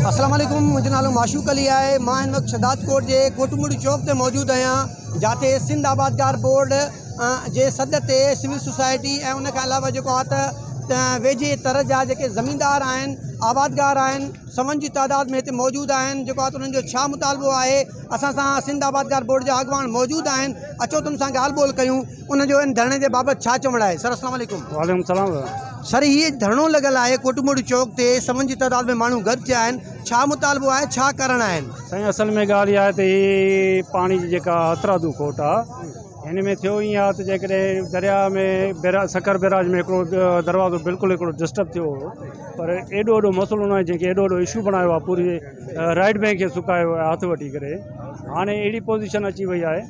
اسلام عليڪم منهنجو نالو معشوق علي آهي مان هن وقت شهداد ڪوٽ جي ڪوٽمڙي چوڪ تي موجود آهيان جاتي سنڌ آبادگار بورڊ جي سڏ تي سول سوسائٽي ۽ ان کان علاوه جيڪو آهي ته ويجهي تر جا جيڪي زميندار آهن آبادگار آهن سون جي تعداد ۾ هتي موجود آهن جيڪو آهي ته انهن جو ڇا مطالبو آهي اسان سان سنڌ آبادگار بورڊ جا اڳواڻ موجود آهن اچو تن سان ڳالهه ٻولهه ڪيون ان جو ان ڌرڻي جي بابت ڇا چوڻ آهي؟ سر السلام عليڪم. وعليڪم السلام دادا. سر هي ڌرڻو لڳل آهي ڪوٽ موڙي چوڪ تي سون جي تعداد ۾ ماڻهو گڏ ٿيا آهن ڇا مطالبو آهي ڇا ڪارڻ آهن؟ سائين اصل ۾ ڳالهه اها آهي ته هي پاڻي جي جيڪا هٿرادو کوٽ آهي هن ۾ ٿيو ائين آهي ته جيڪڏهن درياء ۾ بيراج سکر بيراج ۾ هڪڙو دروازو بلڪل هڪڙو ڊسٽرب ٿيو هو پر ايڏو وڏو مسئلو ناهي جنهن کي ايڏو وڏو اشو بڻايو آهي پوري رائٽ بئنڪ کي سڪايو آهي هٿ وٺي ڪري هاڻي اهڙي پوزيشن اچي وئي آهي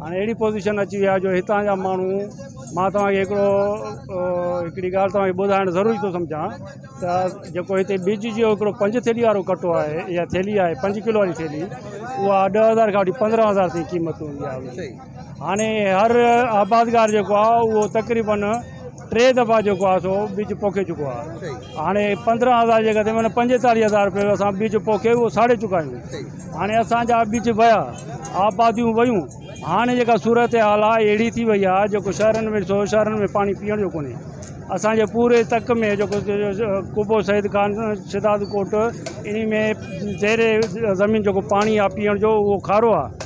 هاڻي اهڙي پوزيشن اچي وئي آهي جو هتان جا ماڻهو مان توهان کي هڪڙو هڪڙي ڳالهه توهان کي ٻڌائڻ ضروري ٿو سمجهان ته جيڪو هتي ٻج جو هڪڙو پنج ٿيلي وارو ڪٽو آهي يا ٿيلي آهي پنج کلو واري ٿيلي اها ڏهه هزار کان وٺي پندرهن هزار تائين قيمت هوندي آهي هاڻي هر آبادگار جيڪو آهي اهو تقريبن ٽي دفعا جيڪو آهي سو ٻج پوکي چڪو آهي هاڻي پندرهن هزار جيڪا ٿي معنيٰ پنجيتاليهه هزار روپيو اسان ٻج پوکي اهو ساڙي چڪا آهيون هاڻي اسان جا ٻج ويا آباديون ويون هاڻي جيڪا صورتحال آهي اهڙي ٿي وئي آهي جيڪو شهرن ۾ ڏسو شهرن ۾ پاڻي پيئڻ جو ڪونهي اسان جي پوري تڪ ۾ جيڪو قبو سيد خان شهداد ڪوٽ ان ۾ زير زمين جيڪو پاڻي آهي پيئڻ جو اهو کارو آهي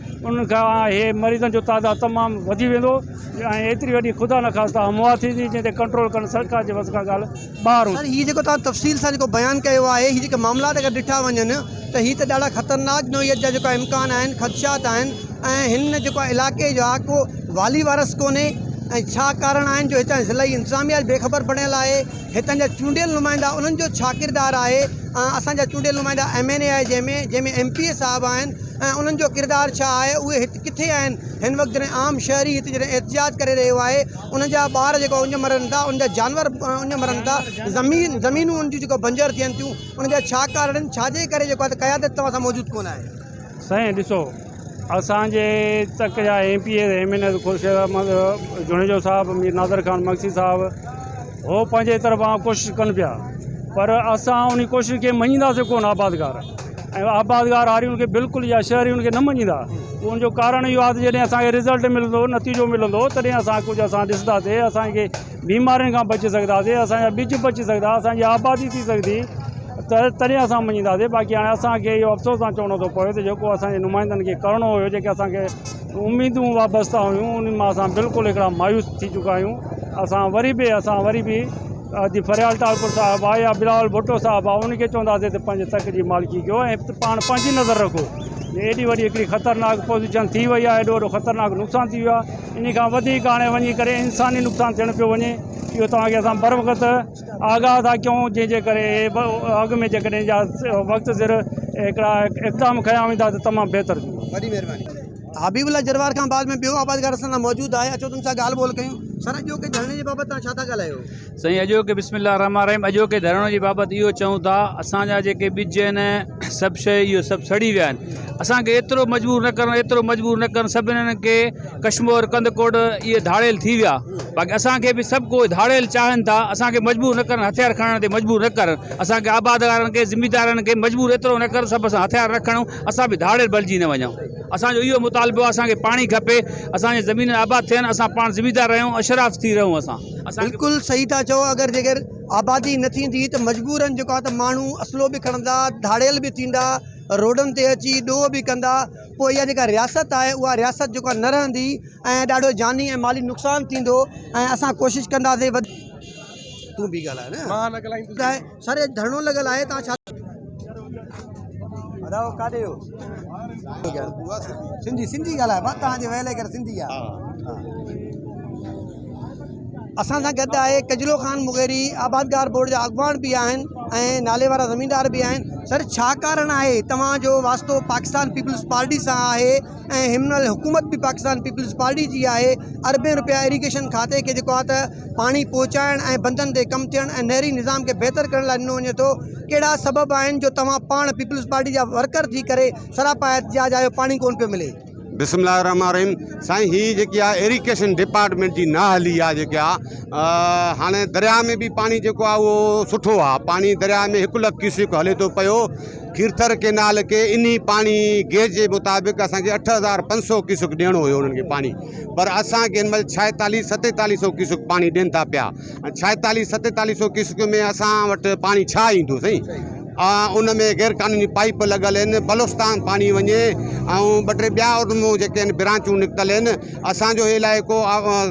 انهن کان اهي مريضن جو تعداد تمام وڌي ويندو ۽ ايتري وڏي خدا نخواسته اموات ٿيندي جنهن تي ڪنٽرول ڪرڻ سرڪار جي وس کان ڳالهه ٻاهر هوندي. سر هي جيڪو توهان تفصيل سان جيڪو بيان ڪيو آهي هي جيڪي معاملات اگر ڏٺا وڃن ته هي ته ڏاڍا خطرناڪ نوعيت جا جيڪا امڪان آهن خدشات آهن ۽ هن ۾ جيڪو علائقي جا ڪو والي وارث ڪونهي ۽ ڇا ڪارڻ آهن جو هتان جي ضلعي انتظاميا بي خبر بڻيل آهي هتان جا چونڊيل نمائندا انهن جو ڇا ڪردار آهي ۽ اسان جا چونڊيل نمائندا ايم اين اي آهي جنهن ۾ جنهن ۾ ايم پي اي صاحب آهن ۽ انهن جو ڪردار ڇا آهي اهي هت ڪٿي آهن هن وقت جڏهن عام شهري هت جڏهن احتجاج ڪري رهيو آهي انهن جا ٻار جيڪو اڃ مرن ٿا انهن جا جانور اڃ مرن ٿا زمين زمينون انهن جون جيڪو بنجر ٿين ٿيون انهن جا ڇا ڪارڻ آهن ڇاجي ڪري جيڪو آهي ته قيادت توهان سان موجود ڪونه آهي. سائين ڏسو اسان جي تڪ جا M P As M N As Khurshid Ahmed Junejo صاحب مير نادر خان مگسي صاحب هو پنهنجي طرفان ڪوشش ڪن پيا پر اسان انهي ڪوشش کي مڃينداسين ڪونه آبادگار ۽ آبادگار هارين کي بلڪل يا شهرين کي نه مڃيندا ان جو ڪارڻ اهو آهي ته جڏهن اسان کي رزلٽ ملندو نتيجو ملندو تڏهن اسان ڪجهه اسان ڏسنداسين اسان کي بيمارين کان بچي سگهنداسين اسان جا ٻج بچي سگهندا اسان جي آبادي ٿي سگهندي ته تڏهن اسان مڃينداسين باقي هاڻي اسان کي اهو افسوس سان چوڻو ٿو پوي ته جيڪو اسان جي نمائندن کي ڪرڻو هيو جيڪي اسان کي اميدون وابستا هيون ان مان اسان بلڪل هڪڙا مايوس ٿي چڪا آهيون اسان وري به اسان وري به جي فريال ٽالپر صاحب آ يا بلاول ڀٽو صاحب آ ان کي چونداسين ته پنهنجي تڪ جي مالڪي ڪيو ۽ پاڻ پنهنجي نظر رکو ايڏي وڏي هڪڙي خطرناڪ پوزيشن ٿي وئي آ ايڏو وڏو خطرناڪ نقصان ٿي ويو آ ان کان وڌيڪ هاڻي وڃي ڪري انساني نقصان ٿيڻ پيو وڃي اهو توهان کي اسان بر وقت آگاهه ٿا ڪيون جنهن جي ڪري اڳ ۾ جيڪڏهن وقت سر هڪڙا اقدام کنيا ويندا ته تمام بهتر ٿيندو وڏي مهرباني حبيب الله جروار کان بعد ۾ ٻيو آبادگار اسان سان موجود آهي اچو تن سان ڳالهه ٻولهه ڪيون. سر اڄوڪي ڌرڻي جي بابت توهان ڇا ٿا ڳالهايو؟ سائين اڄوڪي بسم الله الرحمٰن الرحيم اڄوڪي ڌرڻي جي بابت اهو چئون ٿا اسان جا جيڪي ٻج آهن سڀ شيء اهي سڀ سڙي ويا آهن اسان کي ايترو مجبور نه ڪرڻ ايترو مجبور نه ڪرڻ سڀ انهن کي ڪشمور ڪنڌڪوٽ اهي ڌاڙيل ٿي ويا باقي اسان کي به سڀ ڪوئي ڌاڙيل چاهن ٿا اسان کي مجبور نه ڪرڻ هٿيار کڻڻ تي مجبور نه ڪرڻ اسان کي آبادگارن کي ذميدارن کي مجبور ايترو نه ڪرڻ سڀ سان هٿيار نه کڻون اسان به ڌاڙيل بڻجي نه وڃون، اسان جو اهو مطالبو آهي اسان کي پاڻي کپي، اسان جون زمينون آباد ٿين، اسان پاڻ زميندار رهيون، اشراف ٿي رهون اسان. بلڪل صحيح ٿا چئو اگر جيڪر آبادي نه ٿيندي ته مجبورن جيڪو آهي ته ماڻهو اصلو به کڻندا ڌاڙيل به ٿيندا روڊن تي اچي ڏوهه به ڪندا پوء اها جيڪا رياست آهي اها رياست جيڪو آهي نه رهندي ۽ ڏاڍو جاني ۽ مالي نقصان ٿيندو ۽ اسان ڪوشش ڪنداسين تون به ڳالهاء نه مان نه ڳالهائيندس. سر اڄ ڌرڻو لڳل آهي توهان ڇا ٿا چئو. اسان سان گڏ آهي ڪجلو خان مغيري آبادگار بورڊ جا اڳواڻ به آهن ۽ نالي وارا زميندار به آهن سر ڇا ڪارڻ آهي توهان جو واسطو پاڪستان پيپلز پارٽي سان آهي. ۽ هن مهل حڪومت به پاڪستان پيپلز پارٽي جي آهي، اربين رپيا ايريگيشن کاتي کي جيڪو آهي ته پاڻي پهچائڻ ۽ بندن تي ڪم ٿيڻ ۽ نهري نظام کي بهتر ڪرڻ لاء ڏنو وڃي ٿو، ڪهڙا سبب آهن جو توهان پاڻ پيپلز پارٽي جا ورڪر ٿي ڪري سراپا احتجاج آهيو پاڻي ڪونه پيو ملي. بسم الله الرحمٰن الرحيم سائين هي جيڪي آ ايريڪيشن ڊپارٽمينٽ جي نااهلي آ جيڪي آ هاڻي درياء ۾ به پاڻي جيڪو آ اهو سٺو آ پاڻي درياء ۾ هڪ لک ڪيوسڪ هلي ٿو پيو کيرٿر ڪينال کي انهي پاڻي گيج جي مطابق اسان کي اٺ هزار پنج سؤ ڪيسڪ ڏيڻو هيو انهن کي پاڻي پر اسان کي هن مهل ڇائيتاليهه ستيتاليهه سؤ ڪيسڪ پاڻي ڏين ٿا پيا ڇائيتاليهه ستيتاليهه سؤ ڪيسڪ ۾ اسان وٽ پاڻي ڇا ايندو سائين ان ۾ غير قانوني پائيپ لڳل آهن بلوستان پاڻي وڃي ۽ ٻه ٽي ٻيا ان مون جيڪي آهن برانچون نڪتل آهن اسان جو هي علائقو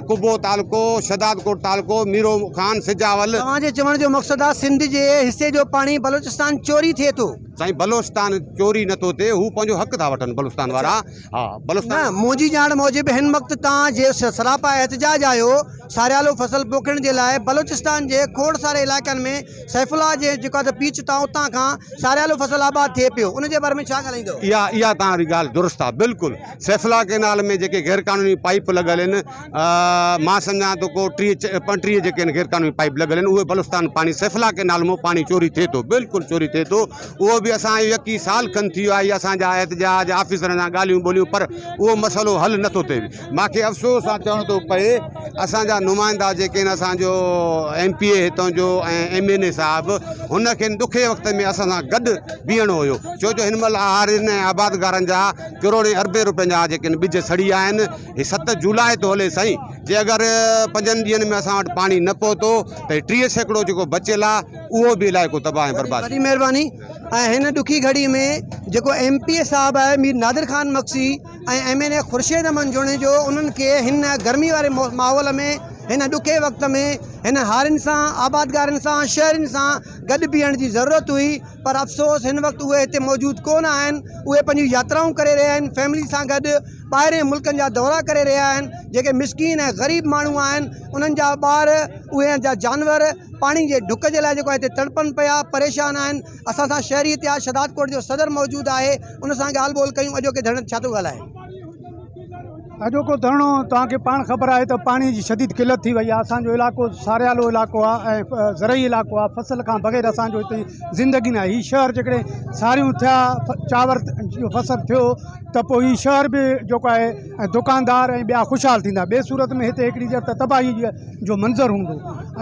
قبو تعلقو، شھدادڪوٽ تعلقو، ميرو خان، سجاول. توهان جي چوڻ جو مقصد آ سنڌ جي حصي جو پاڻي بلوچستان چوري ٿئي ٿو. سائين بلوچستان چوري نه ٿو ٿئي هو پنهنجو حق ٿا وٺن بلوچستان وارا ها بلوچستان. نه منهنجي ڄاڻ موجب هن وقت تان جي سراپا احتجاج آهيو ساريالو فصل پوکڻ جي لاء بلوچستان جي کوڙ ساري علائقن ۾ سيف الله جي جيڪو اٿ پيچ تان اتان کان ساريالو فصل آباد ٿئي پيو ان جي باري ۾ ڇا ڳالهائيندو. اها اها توهان ري ڳالهه درست آ بلڪل. سيفلا ڪينال ۾ جيڪي غير قانوني پائيپ لڳل آهن مان سمجهان ٿو ڪو ٽيهه پنٽيهه جيڪي آهن غير قانوني پائيپ لڳل آهن اهي بلوچستان پاڻي سيفلا ڪينال مون پاڻي چوري ٿئي ٿو بلڪل چوري ٿئي ٿو اهو به اسان يڪي سال کن ٿي ويو آهي اسان جا احتجاج آفيسرن سان ڳالهيون ٻولهيون پر اهو مسئلو حل نٿو ٿئي ماکي افسوس سان چوڻ ٿو پئي اسان جا نمائندا جيڪي آهن اسان جو ايم پي اي هتان جو ۽ ايم اين اي صاحب هن کي ڏکئي وقت ۾ اسان سان گڏ بيهڻو هيو ڇو جو هن مهل آهارين ۽ آبادگارن جا ڪروڙين اربين روپين جا جيڪي ان ٻج سڙي ويا آهن هي ست جولاء ٿو هلي سائين جي اگر پنجن ڏينهن ۾ اسان وٽ پاڻي نه پهتو ته هي ٽيهه سيڪڙو جيڪو بچيل آهي اهو به علائقو تباهه ۽ برباد وڏي مهرباني ۽ هن ڏکي گهڙي ۾ جيڪو ايم پي اي صاحب آهي Mir Nadir Khan Magsi ۽ M N A Khurshid Ahmed Junejo انهن کي هن گرمي واري ماحول ۾ هن ڏکي وقت ۾ هن هارين سان آبادگارن سان شهرين سان گڏ بيهڻ جي ضرورت هئي پر افسوس هن وقت اهي هتي موجود ڪونه آهن، اهي پنهنجون ياترائون ڪري رهيا آهن، فيملي سان گڏ ٻاهرين ملڪن جا دورا ڪري رهيا آهن، جيڪي مسڪين ۽ غريب ماڻهو آهن انهن جا ٻار اهي جا جانور پاڻي جي ڍڪ جي لاء جيڪو آهي هتي تڙپن پيا پريشان آهن، اسان سان شهري اتحاد شهدادڪوٽ جو صدر موجود آهي ان سان ڳالهه ٻولهه ڪيون اڄوڪي ڌرڻي تي ڇا ٿو ڳالهائي. اڄوڪو ڌرڻو توهان کي پاڻ خبر آهي ته پاڻي جي شديد قلت ٿي وئي آهي اسان جو علائقو ساريالو علائقو آهي ۽ زرعي علائقو آهي فصل کان بغير اسان جو هتي زندگي نه آهي هي شهر جيڪڏهن ساريون ٿيا چاور جو فصل ٿيو ته پوء هي شهر به جيڪو آهي ۽ دڪاندار ۽ ٻيا خوشحال ٿيندا ٻي صورت ۾ هتي هڪڙي جت تباهي جو منظر هوندو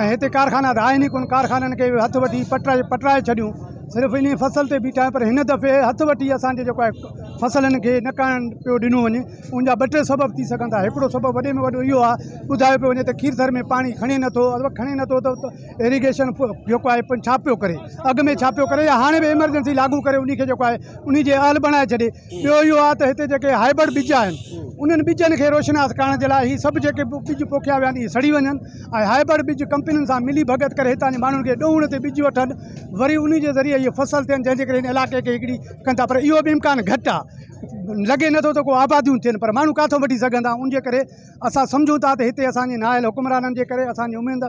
۽ هتي ڪارخانا ته آهن ئي ڪونه ڪارخانن کي هٿ وٺي پٽرائي پٽرائي ڇڏيون صرف انهي فصل تي بيٺا آهيون پر هن دفعي هٿ وٺي اسان جي جيڪو آهي فصلن کي نه ڪاڻ پيو ڏنو وڃي ان جا ٻه ٽي سبب ٿي سگهن ٿا هڪڙو سبب وڏي ۾ وڏو اهو آهي ٻڌايو پيو وڃي ته کير ٿر ۾ پاڻي کڻي نه ٿو اگر کڻي نه ٿو ته ايريگيشن جيڪو آهي پن ڇا پيو ڪري اڳ ۾ ڇا پيو ڪري يا هاڻي به ايمرجنسي لاڳو ڪري ان کي جيڪو آهي ان جي اهل بڻائي ڇڏي ٻيو اهو آهي ته هتي جيڪي هائبرڊ ٻج آهن انهن ٻجن کي روشناس ڪرڻ جي لاء هي سڀ جيڪي ٻج پوکيا ويا آهن اهي سڙي وڃن ۽ هائبرڊ ٻج ڪمپنين سان ملي ڀڳت ڪري هتان جي ماڻهن کي ڏوهڻ تي ٻج وٺن وري ان جي ذريعي هي فصل ٿين جنهن جي ڪري هن علائقي کي هڪڙي ڪن ٿا پر اهو به امڪان گهٽ آ لڳي نٿو ته ڪو آباديون ٿين پر ماڻهو ڪاٿو وٺي سگهندا ان جي ڪري اسان سمجهون ٿا ته هتي اسان جي نااهل حڪمرانن جي ڪري اسان جي اميد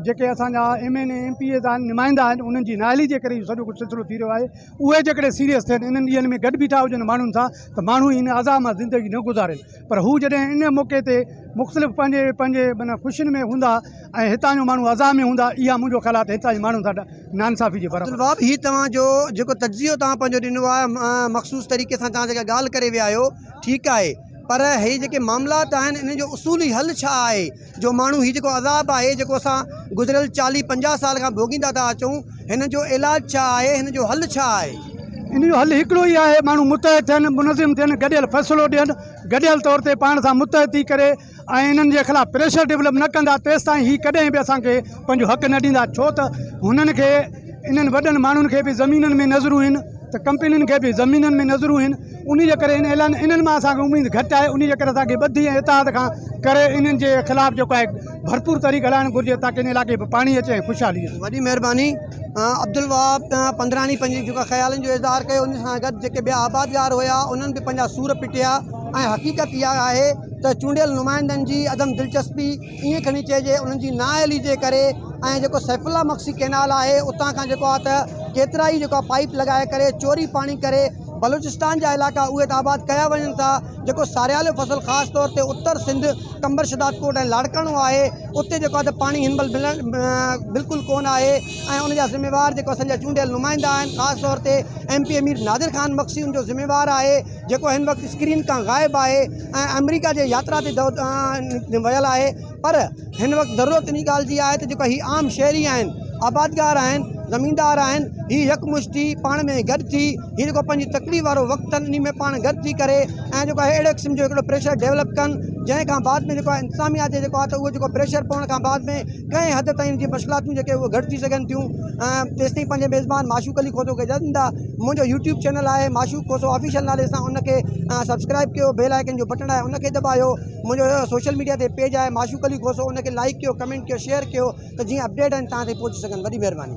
جيڪي اسان جا M N A M P As آهن نمائندا آهن انهن جي نااهلي جي ڪري اهو سڄو ڪجهه سلسلو ٿي رهيو آهي اهي جيڪڏهن سيريس ٿين انهن ڏينهن ۾ گڏ بيٺا هجن ماڻهن سان ته ماڻهو ان عذاب مان زندگي نه گذارين پر هو جڏهن ان موقعي تي مختلف پنهنجي پنهنجي معنيٰ خوشين ۾ هوندا ۽ هتان جو ماڻهو عذاب ۾ هوندا اها منهنجو خيال آهي ته هتان جي ماڻهن سان ناانصافي جي برابر آهي. عبدالوهاب هي توهان جو جيڪو تجزيو توهان پنهنجو ڏنو آهي مخصوص طريقي سان توهان جيڪا ڳالهه ڪري ويا آهيو ٺيڪ آهي پر هي جيڪي معاملات آهن انهن جو اصولي حل ڇا آهي؟ جو ماڻهو هي جيڪو عذاب آهي جيڪو اسان گذريل چاليهه پنجاهه سال کان ڀوڳيندا ٿا اچون هن جو علاج ڇا آهي هن جو حل ڇا آهي؟ ان جو حل هڪڙو ئي آهي ماڻهو متحد ٿين منظم ٿين گڏيل فيصلو ڏين گڏيل طور تي پاڻ سان متحد ٿي ڪري ۽ انهن جي خلاف پريشر ڊيولپ نه ڪندا تيستائين هي ڪڏهن به اسان کي پنهنجو حق نه ڏيندا ڇو ته هنن کي انهن وڏن ماڻهن کي به زمينن ۾ نظرون هين ته ڪمپنين کي به زمينن ۾ نظرون هين انهيء جي ڪري ان اعلان انهن مان اسان کي اميد گهٽ آهي. انهيء جي ڪري اسان کي ٻڌي ۽ اتحاد کان ڪري انهن جي خلاف جيڪو آهي ڀرپور تحريڪ هلائڻ گهرجي تاڪه ان علائقي ۾ پاڻي اچي ۽ خوشحالي اچي. وڏي مهرباني عبدالوهاب پنڌراڻي پنهنجي جيڪو خيالن جو اظهار ڪيو ان سان گڏ جيڪي ٻيا آبادگار هيا انهن به پنهنجا سور پٽيا ۽ حقيقت اها آهي ته چونڊيل نمائندن جي عدم دلچسپي ائين کڻي چئجي انهن جي نااهلي جي ڪري ۽ جيڪو سيف الله مگسي ڪئنال آهي اتان کان جيڪو آهي ته ڪيترائي جيڪو آهي پائيپ لڳائي ڪري چوري پاڻي ڪري بلوچستان جا علائقا اهي ته آباد ڪيا وڃن ٿا جيڪو ساريالو فصل خاص طور تي اتر سنڌ قمبر شهدادڪوٽ ۽ لاڙڪاڻو آهي اتي جيڪو آهي ته پاڻي هن مهل ملڻ بلڪل ڪونه آهي ۽ ان جا ذميوار جيڪو اسان جا چونڊيل نمائندا آهن خاص طور تي M P A Mir Nadir Khan Magsi ان جو ذميوار آهي جيڪو هن وقت اسڪرين کان غائب آهي ۽ آمريڪا جي ياترا تي ويل آهي پر هن وقت ضرورت انهي ڳالهه جي آهي ته جيڪو هي عام شهري آهن، آبادگار آهن، زميندار آهن، هي يڪمشت ٿي پاڻ ۾ گڏ ٿي هي جيڪو پنهنجي تڪليف وارو وقت اٿن انهي ۾ پاڻ گڏ ٿي ڪري ۽ جيڪو آهي اهڙي قسم جو هڪڙو پريشر ڊيولپ ڪن جنهن کان بعد ۾ جيڪو آهي انتظاميا تي جيڪو آهي ته اهو جيڪو پريشر پوڻ کان بعد ۾ ڪنهن حد تائين جي مشڪلاتون جيڪي اهي گهٽ ٿي سگهن ٿيون ۽ تيستائين پنهنجي ميزبان معشوق علي کوسو کي اجازت ڏيندا منهنجو يوٽيوب چينل آهي معشوق کوسو آفيشل نالي سان ان کي سبسڪرائب ڪيو بيل آئڪن جو بٽڻ آهي ان کي دٻايو منهنجو اهڙو سوشل ميڊيا تي پيج آهي معشوق علي کوسو ان کي لائڪ ڪيو ڪمينٽ ڪيو شيئر ڪيو ته جيئن اپڊيٽ آهن تهان تائين پهچي سگهن وڏي مهرباني.